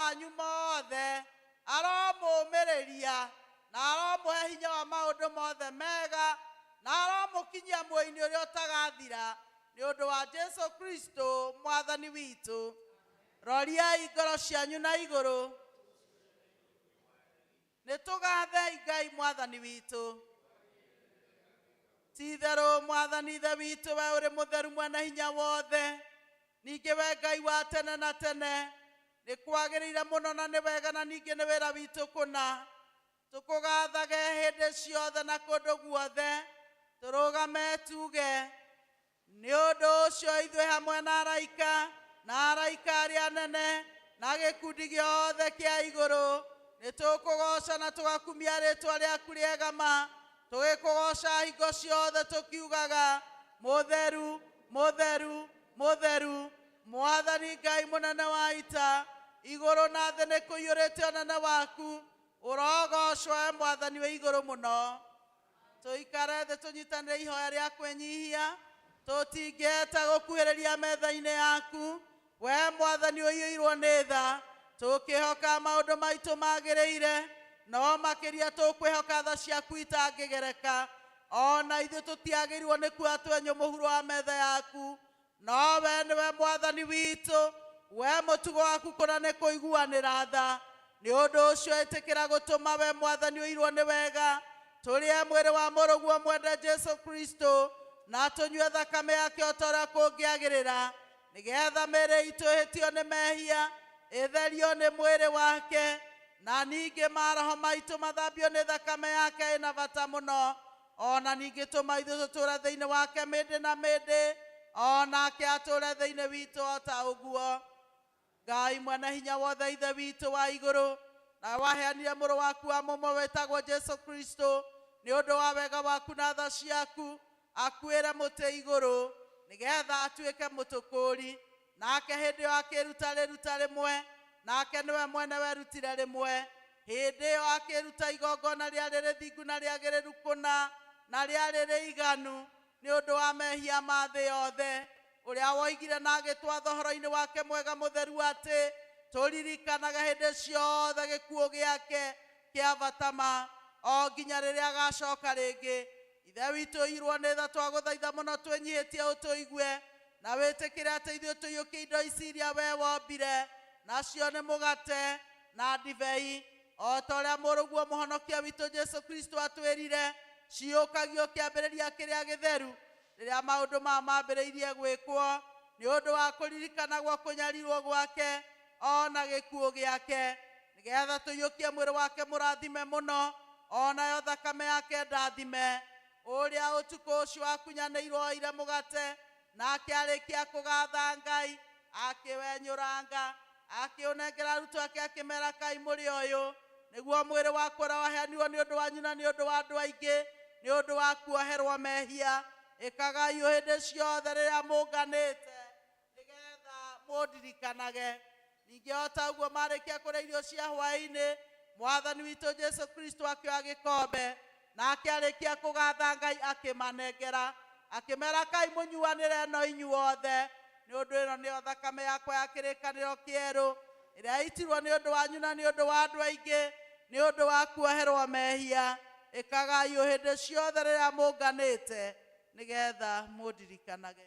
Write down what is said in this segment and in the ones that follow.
manyu mothe, aromũũmĩrĩria, na aromũhe hinya wa maũndũ mothe mega, na aromũkinyia muoyo-inĩ ũrĩa ũtagathira, nĩ ũndũ wa Jesu Kristo Mwathani witũ. Roriai ngoro cianyu na igũrũ. Nĩ tũgaathei Ngai Mwathani witũ. Ti itherũ Mwathani Ithe witũ, wee ũrĩ mũtheru Mwene-Hinya-Wothe, ningĩ wee Ngai wa tene na tene, nĩ kwagĩrĩire mũno na nĩ wega na ningĩ nĩ wĩra witũ kũna tũkũgaathage hĩndĩ ciothe na kũndũ guothe, tũrũgame tuuge, Nĩ ũndũ ũcio ithuĩ hamwe na araika, na araika arĩa anene, na gĩkundi gĩothe kĩa igũrũ, nĩtũkũgooca na tũgakumia rĩĩtwa rĩaku rĩega ma, tũgĩkũgoocaga hingo ciothe tũkiugaga, Mũtheru, mũtheru, mũtheru, Mwathani Ngai mũnene wa ita, igũrũ na thĩ nĩkũiyũrĩte ũnene waku, ũrogoocwo wee Mwathani wĩ Igũrũ Mũno. Tũikare thĩ tũnyitanĩre ihoya rĩa kwĩnyihia, tũtingĩhĩta gũkuhĩrĩria metha-inĩ yaku, wee Mwathani ũiyũirwo nĩ tha, tũkĩhoka maũndũ maitũ magĩrĩire, no makĩria tũkwĩhoka tha ciaku itangĩgereka. O na ithuĩ tũtiagĩrĩirwo nĩ kuoya twenyũ mũhuro wa metha yaku, Nowe nĩwe Mwathani witũ, we mũtugo waku kũna nĩ kũiguanĩra tha, nĩ ũndũ ũcio ĩtĩkĩra gũtũma we Mwathani ũirwo nĩ wega, tũrĩe mwĩrĩ wa mũrũguo mwende Jesu Kristo, na tũnyue thakame yake o ta ũrĩa kũngĩagĩrĩra, nĩ getha mĩĩrĩ itũ ĩhĩtio nĩ mehia ĩtherio nĩ mwĩrĩ wake, na ningĩ maroho maitũ mathambio nĩ thakame yake ĩna bata mũno. o na ningĩ tũma ithuĩ tũtũũre thĩinĩ wake mĩndĩ na mĩndĩ, o nake atũũre thĩinĩ witũ o ta ũguo. Ngai Mwene-Hinya-Wothe, Ithe witũ wa igũrũ, nawe waheanire Mũrũ waku wa mũmwe wĩtagwo Jesu Kristo nĩ ũndũ wa wega waku na tha ciaku, akuĩre mũtĩ igũrũ, nĩgetha atuĩke mũtũkũũri, Nake hĩndĩ ĩyo akĩĩruta rĩruta rĩmwe, nake nĩwe mwene werutire rĩmwe. Hĩndĩ ĩyo akĩĩruta igongona rĩarĩ rĩthingu na rĩagĩrĩru kũna, na rĩarĩ rĩiganu, nĩ ũndũ wa mehia ma thĩ yothe. Ũrĩa woigire na agĩtwatha ũhoro-inĩ wake mwega mũtheru atĩ, Tũririkanage hĩndĩ ciothe gĩkuũ gĩake kĩa bata ma, o nginya rĩrĩa agaacoka rĩngĩ. Ithe witũ ũiyũirwo nĩ tha, twagũthaitha mũno twĩnyihĩtie ũtũigue, Na wĩtĩkĩre atĩ ithuĩ tũiyũkie indo ici iria wee wombire, nacio nĩ mũgate na ndibei, o ta ũrĩa Mũrũguo Mũhonokia witũ Jesu Kristo atwĩrire, ciyũkagio kĩambĩrĩria kĩrĩa gĩtheru, rĩrĩa maũndũ maya mambĩrĩirie gwĩkwo, nĩ ũndũ wa kũririkanagwo kũnyarirwo gwake, o na gĩkuũ gĩake, nĩgetha tũiyũkie mwĩrĩ wake mũrathime mũno, o nayo thakame yake ndathime. Ũrĩa ũtukũ ũcio akunyanĩirwo oire mũgate, na akĩarĩkia kũgaatha Ngai, akĩwenyũranga, akĩũnengera arutwo ake, akĩmeera, Kai mũrĩe ũyũ, nĩguo mwĩrĩ wakwa ũrĩa waheanirwo nĩ ũndũ wanyu na nĩ ũndũ wa andũ aingĩ nĩ ũndũ wa kuoherwo mehia. Ĩkagai ũũ hĩndĩ ciothe rĩrĩa mũnganĩte. nĩgeetha mũndirikanage. Ningĩ o taũguo maarĩkia kũrĩa irio cia hwaĩ-inĩ, Mwathani witũ Jesũ Kristũ akĩoya gĩkombe, na akĩarĩkia kũgaatha Ngai akĩmanengera, akĩmeera, Kaai mũnyuanĩre no inyuothe, nĩ ũndũ ĩno nĩyo thakame yakwa ya kĩrĩkanĩro kĩerũ, ĩrĩa yaitirwo nĩ ũndũ wanyu na nĩ ũndũ wa andũ aingĩ nĩ ũndũ wa kuoherwo mehia. Ĩkagaai ũũ hĩndĩ ciothe rĩrĩa mũnganĩte, nĩgeetha mũndirikanage.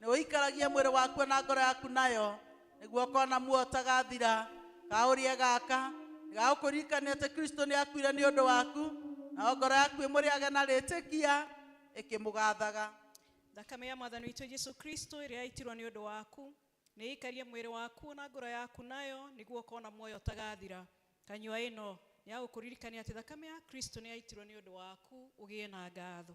Nĩ ũikaragia mwĩrĩ wakuo na ngoro yaku nayo, nĩguo ũkona muoyo ũtagathira. Kaũrie gaka nĩ gagũkũririkania atĩ Kristo nĩ akuire nĩ ũndũ waku, nayo ngoro yaku ĩmũrĩage na rĩtĩkia ĩkĩmũgathaga. Thakame ya Mwathani witũ Jesu Kristo ĩrĩa yaitirwo nĩ ũndũ waku, nĩ ĩikarie mwĩrĩ waku na ngoro yaku nayo, nĩguo ũkona muoyo ũtagathira. Kanyua ĩno, nĩ ya gũkũririkania atĩ thakame ya Kristo nĩ yaitirwo nĩ ũndũ waku, ũgĩe na ngatho.